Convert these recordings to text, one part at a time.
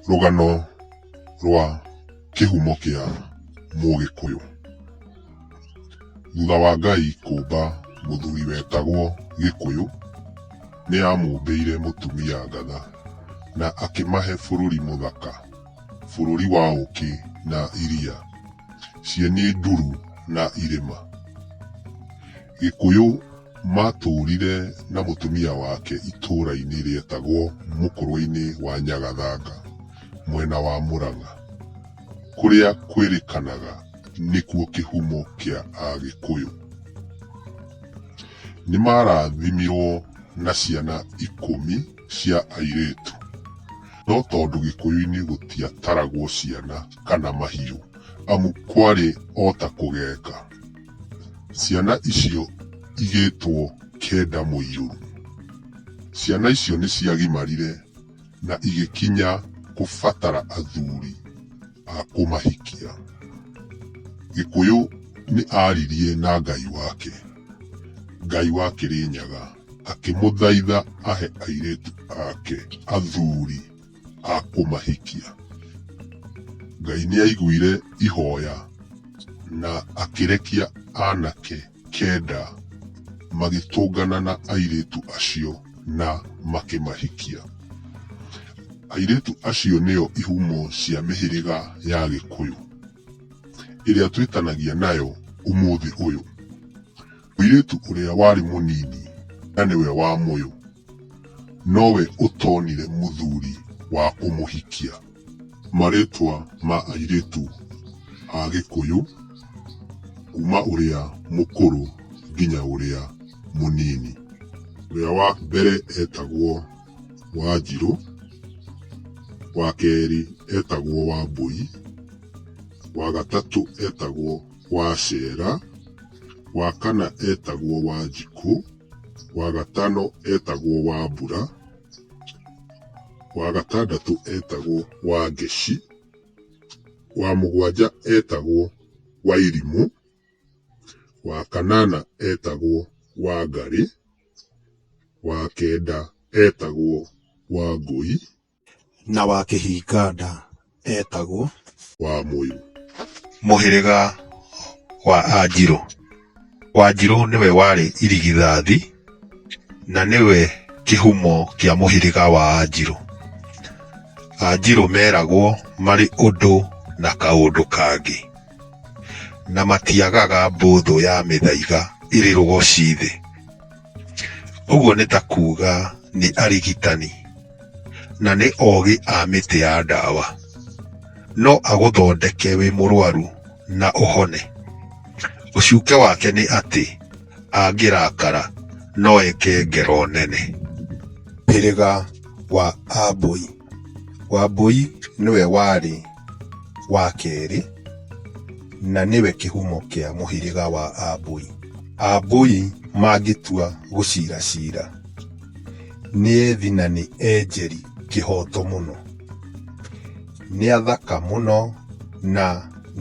Rũgano rwa kĩhumo kĩa mũgĩkũyũ. Thutha wa Ngai kũmba mũthuri wetagwo gĩkũyũ, nĩ amũmbĩire mũtumia ngatha na akĩmahe bũrũri mũthaka, bũrũri wa ũkĩ na iria, cieni nduru na irĩma. Gĩkũyũ maatũũrire na mũtumia wake itũũra-inĩ rĩetagwo Mũkũrwa-inĩ wa Nyagathanga, mwena wa Mũrang'a, kũrĩa kwĩrĩkanaga nĩkuo kĩhumo kĩa Agĩkũyũ. Nĩ maarathimirũo na ciana ikũmi cia airĩtu. No tondũ Gĩkũyũ-inĩ gũtiataragwo ciana kana mahiũ, amu kwarĩ o ta kũgeka. Ciana icio igĩtwo Keda Mũirũru. Ciana icio nĩ ciagimarire na igĩkinya kũbatara athuri a kũmahikia. Gĩkũyũ nĩ aaririe na Ngai wake, Ngai wa Kĩrĩnyaga, akĩmũthaitha ahe airĩtu ake athuri. a kũmahikia. Ngai nĩ aiguire ihoya na akĩrekia anake kenda magĩtũngana na airĩtu acio na makĩmahikia. Airĩtu acio nĩo ihumo cia mĩhĩrĩga ya Gĩkũyũ ĩrĩa twĩtanagia nayo ũmũthĩ ũyũ. Mũirĩtu ũrĩa warĩ mũnini na nĩwe wa mũyũ nowe ũtonire mũthuri wa kũmũhikia. Marĩtwa ma airĩtu a Gĩkũyũ kuma ũrĩa mũkũrũ nginya ũrĩa mũnini. Ũrĩa wa mbere etagwo Wanjirũ, wa kerĩ etagwo Wambũi, wa gatatũ etagwo. Wacera, wa kana etagwo Wanjikũ, wa gatano etagwo Wambura, wa gatandatũ etagwo Wangeci, wa mũgwanja etagwo Wairimũ, wa kanana etagwo Wangarĩ, wa kenda etagwo Wangũi. Na wa Kĩhinga-nda eetagwo. Wa Mũirũ. Mũhĩrĩga wa Anjirũ. Wanjirũ nĩwe warĩ irigithathi na nĩwe kĩhumo kĩa mũhĩrĩga wa Anjirũ. Anjirũ meragwo marĩ ũndũ na kaũndũ kangĩ, na matiagaga mbũthũ ya mĩthaiga ĩrĩ rũgoci thĩ. Ũguo nĩ ta kuuga nĩ arigitani. na nĩ ogĩ a mĩtĩ ya ndawa. No agũthondeke wĩ mũrwaru na ũhone. Ũcuke wake nĩ atĩ angĩrakara no eke ngero nene. Hĩrĩga wa Ambũi. Wambũi nĩwe warĩ wa kerĩ na nĩwe kĩhumo kĩa mũhĩrĩga wa Ambũi. Ambũi mangĩtua gũcira cira. Nĩ ethi na nĩ enjeri kĩhoto mũno. Nĩ athaka mũno na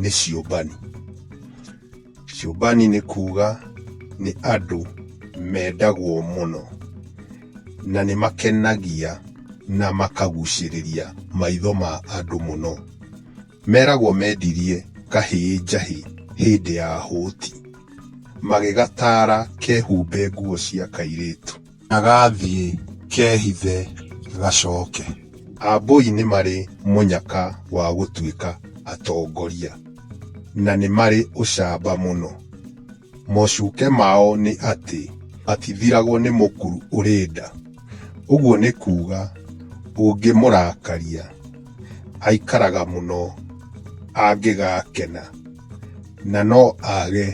nĩ ciũmbani. Ciũmbani nĩ kuga nĩ andũ mendagwo mũno na nĩ makenagia na makagucĩrĩria maitho ma andũ mũno. Meragwo mendirie kahĩĩ njahĩ hĩndĩ ya hũti. Magĩgataara kehumbe nguo cia kairĩtu. Na gathiĩ kehithe gacoke. Ambũi nĩ marĩ mũnyaka wa gũtuĩka atongoria. Na nĩ marĩ ũcamba mũno. Mocuke mao nĩ atĩ matithiragwo nĩ mũkuru ũrĩ nda. Ũguo nĩ kuuga ũngĩmũrakaria aikaraga mũno angĩgakena na no age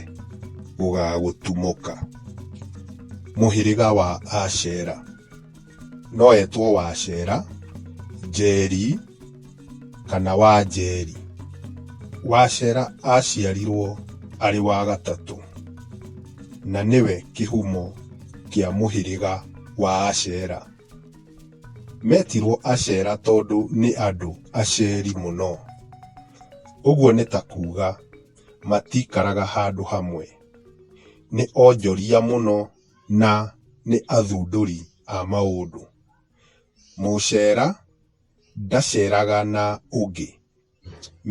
gũgagũtumũka. Mũhĩrĩga wa Ashera. no etwo Wacera, Njeri kana Wanjeri. Wacera aciarirwo arĩ wa gatatũ na nĩwe kĩhumo kĩa mũhĩrĩga wa Acera. Metirwo Acera tondũ nĩ andũ aceri mũno. Ũguo nĩ ta kuga matikaraga handũ hamwe. Nĩ onjoria mũno na nĩ athundũri a maũndũ. Mũcera ndaceraga na ũngĩ,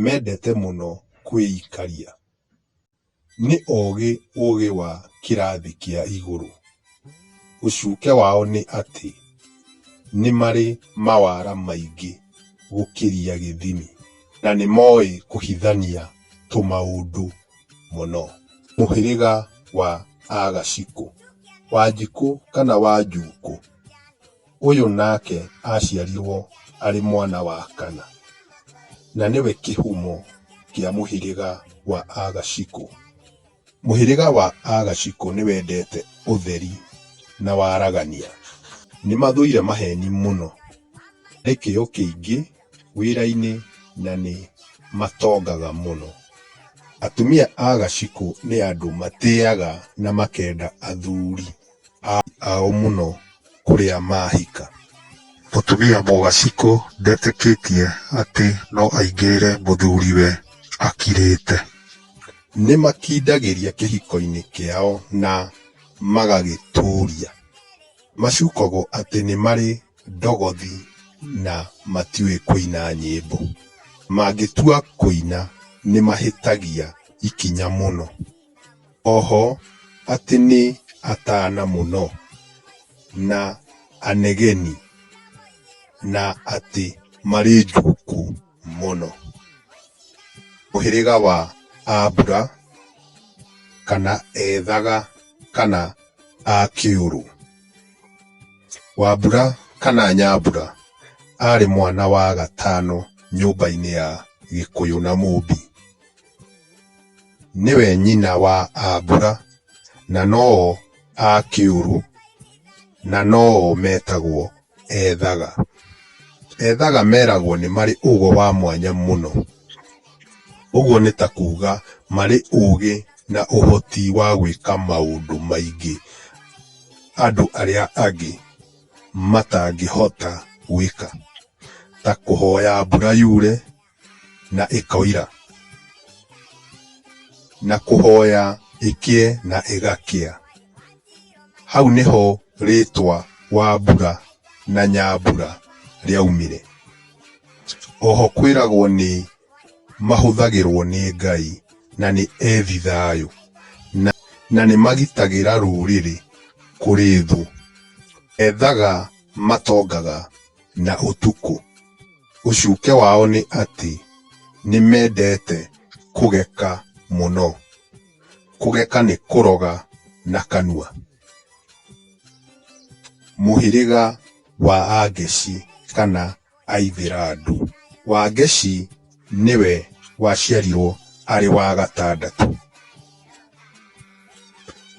mendete mũno kwĩikaria. Nĩ ogĩ ũgĩ wa kĩrathi kĩa igũrũ. Ũcuke wao nĩ atĩ nĩ marĩ mawara maingĩ gũkĩria gĩthimi na nĩ moĩ kũhithania tũmaũndũ. mũno. Mũhĩrĩga wa Agacikũ, Wanjikũ kana Wanjuukũ, ũyũ nake aciarirwo arĩ mwana wa kana, na nĩwe kĩhumo kĩa mũhĩrĩga wa Agacikũ. Mũhĩrĩga wa Agacikũ nĩ wendete ũtheri na waragania. Nĩ mathũire maheni mũno. Nĩ kĩyo kĩingĩ. wĩra-inĩ na nĩ matongaga mũno. Atumia a gacikũ nĩ andũ matĩaga na makenda athuri ao mũno kũrĩa mahika. Mũtumia mũgacikũ ndetĩkĩtie atĩ no aingĩrĩre mũthuriwe akirĩte. Nĩ makindagĩria kĩhiko-inĩ kĩao na magagĩtũria. Macukagwo atĩ nĩ marĩ ndogothi na matiũĩ kũina nyĩmbo. Mangĩtua kũina nĩ mahĩtagia ikinya mũno. Oho atĩ nĩ atana mũno na anegeni na atĩ marĩ njuku mũno. Mũhĩrĩga wa ambura kana ethaga kana a kĩũrũ. Wambura kana Nyambura arĩ mwana wa gatano nyũmba-inĩ ya Gĩkũyũ na Mũmbi. Nĩwe nyina wa Ambura na no o a Kĩũrũ na no o metagwo Ethaga. Ethaga meragwo nĩ marĩ ũgo wa mwanya mũno. Ũguo nĩ ta kuuga marĩ ũũgĩ na ũhoti wa gwĩka maũndũ maingĩ andũ arĩa angĩ matangĩhota gwĩka. Ta kũhoya mbura yure na ĩkoira, na kũhoya ĩkĩe na ĩgakĩa. Hau nĩho rĩtwa Wambura na Nyambura rĩaumire. Oho kwĩragwo nĩ mahũthagĩrwo nĩ Ngai na nĩ ethi thayũ na na nĩ magitagĩra rũrĩrĩ kũrĩ thũ. Ethaga matongaga na ũtukũ. Ũcuke wao nĩ atĩ nĩ mendete kũgeka mũno. Kũgeka nĩ kũroga na kanua. Mũhĩrĩga wa Angeci kana. Aithĩrandu. Wangeshi nĩwe waciarirwo arĩ wa gatandatũ.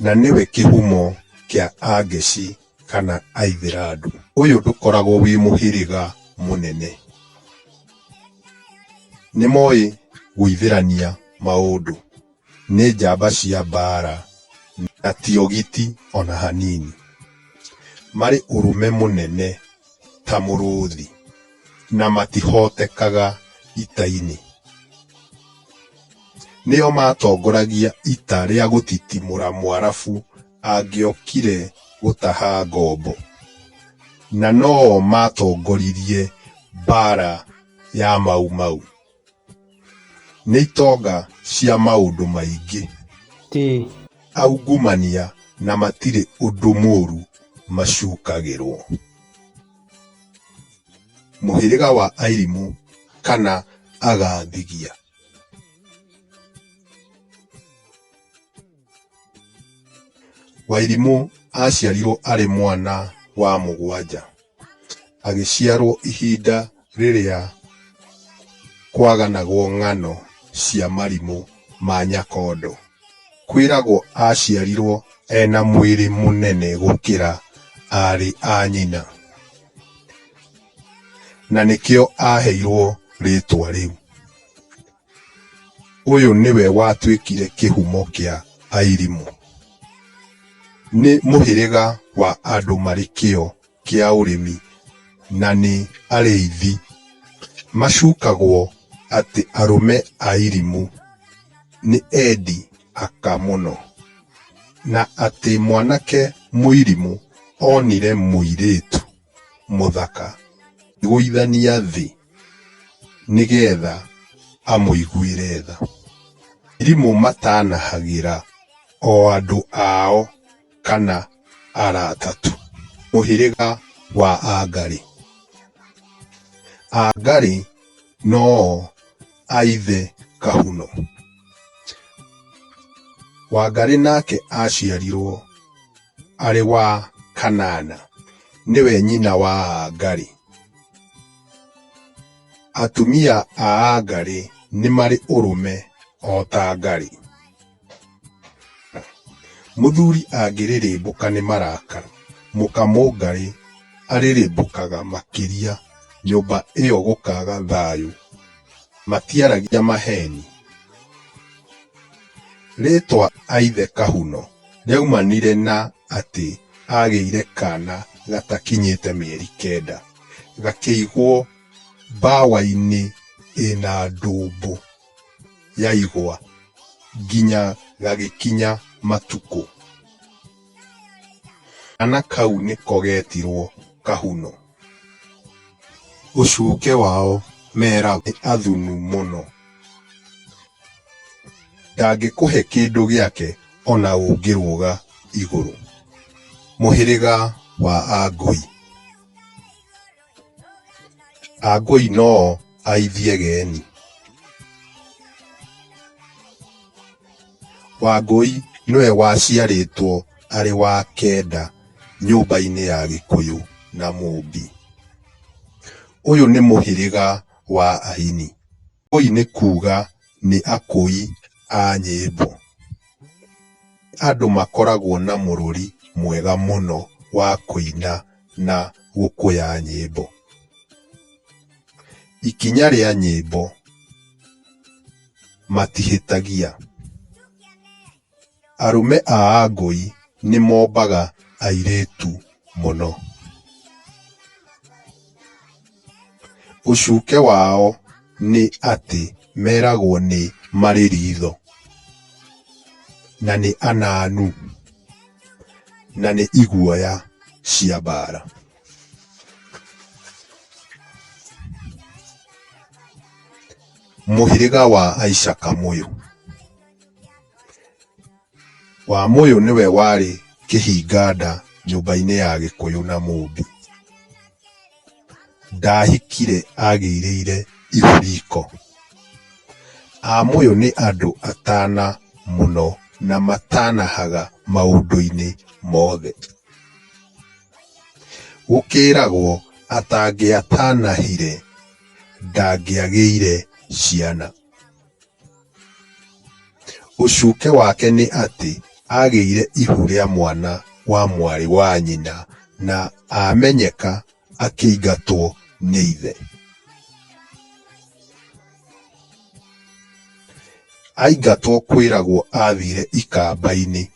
Na nĩwe kĩhumo kĩa Angeshi kana Aithĩrandu. Ũyũ ndũkoragwo wĩ mũhĩrĩga mũnene. Nĩmoĩ gũithĩrania maũndũ. Nĩ njamba cia mbaara na ti ogiti o na hanini. Marĩ ũrũme mũnene ta mũrũũthi na matihootekaga ita-inĩ. Nĩo maatongoragia ita rĩa gũtitimũra Mũarabu angĩokire gũtaha ngombo, na no o maatongoririe mbaara ya Mau Mau. Nĩ itonga cia maũndũ maingĩ. Ĩĩ. Aungumania na matirĩ ũndũ mũũru macukagĩrũo. Mũhĩrĩga wa Airimu kana Agathigia. Wairimũ aaciarirwo arĩ mwana wa mũgwanja. Agĩciarwo ihinda rĩrĩa kwaganagwo ng'ano cia marimũ ma Nyakondo. Kwĩragwo aaciarirwo ena mwĩrĩ mũnene gũkĩra aarĩ a nyina. Na nĩkĩo aaheirwo rĩtwa rĩu. Ũyũ nĩwe watuĩkire kĩhumo kĩa Airimu. Nĩ mũhĩrĩga wa andũ marĩ kĩo kĩa ũrĩmi na nĩ arĩithi. Macukagwo atĩ arũme a Airimu nĩ endi aka mũno na atĩ mwanake Mũirimu onire mũirĩtu. mũthaka gũithania thĩ nĩgetha amũiguĩre tha. Arimũ matanahagĩra o andũ ao kana arata tu. Mũhĩrĩga wa Angarĩ. Angarĩ no o a ithe Kahuno. Wangarĩ nake aciarirwo. arĩ wa Kanana, nĩwe nyina wa Aagari. Atumia a Aagari nĩ marĩ ũrũme o ta Agari. Mũthuri angĩrĩrĩmbũka nĩ marakara, mũka Mũngarĩ arĩrĩmbũkaga makĩria nyũmba ĩyo gũkaga thayũ. Matiaragia maheeni. Rĩĩtwa Aithe Kahuno. Nĩaumanire na atĩ agĩire kana gatakinyĩte mĩeri kenda, gakĩigwo mbawa-inĩ ĩna ndũmbũ ya igwa nginya gagĩkinya matukũ. Kana kau nĩko getirwo Kahuno. Ũcuke wao meragwo nĩ athunu mũno. Ndangĩkũhe kĩndũ gĩake o na ũngĩrũga igũrũ. Mũhĩrĩga wa Angũi. Angũi no o aithie geni. Wangũi nĩwe waciarĩtwo arĩ wa kenda nyũmba-inĩ ya Gĩkũyũ na Mũmbi. Ũyũ nĩ mũhĩrĩga wa aini. Wangũi nĩ kuuga nĩ akũi a nyĩmbo. Andũ makoragwo na mũrũri mwega mũno wa kũina na gũkũya nyĩmbo. Ikinya rĩa nyĩmbo. matihĩtagia. Arũme a Angũi nĩ mombaga airĩtu mũno. Ũcuke wao nĩ atĩ meragwo nĩ marĩ ritho, na nĩ ananu, na nĩ iguoya cia mbara. Mũhĩrĩga wa Aishaka Mũyũ. Wa Mũyũ nĩwe warĩ kĩhinganda nyũmba-inĩ ya Gĩkũyũ na Mũmbi. Ndahikire agĩirĩire ihu riko. A Mũyũ nĩ andũ atana mũno na matanahaga maũndũ-inĩ mothe. Gũkĩragwo atangĩatanahire ndangĩagĩire ciana. Ũcuke wake nĩ atĩ agĩire ihu rĩa mwana wa mwarĩ wa nyina na amenyeka akĩingatwo nĩ ithe. Aingatwo kwĩragwo athire ikamba-inĩ.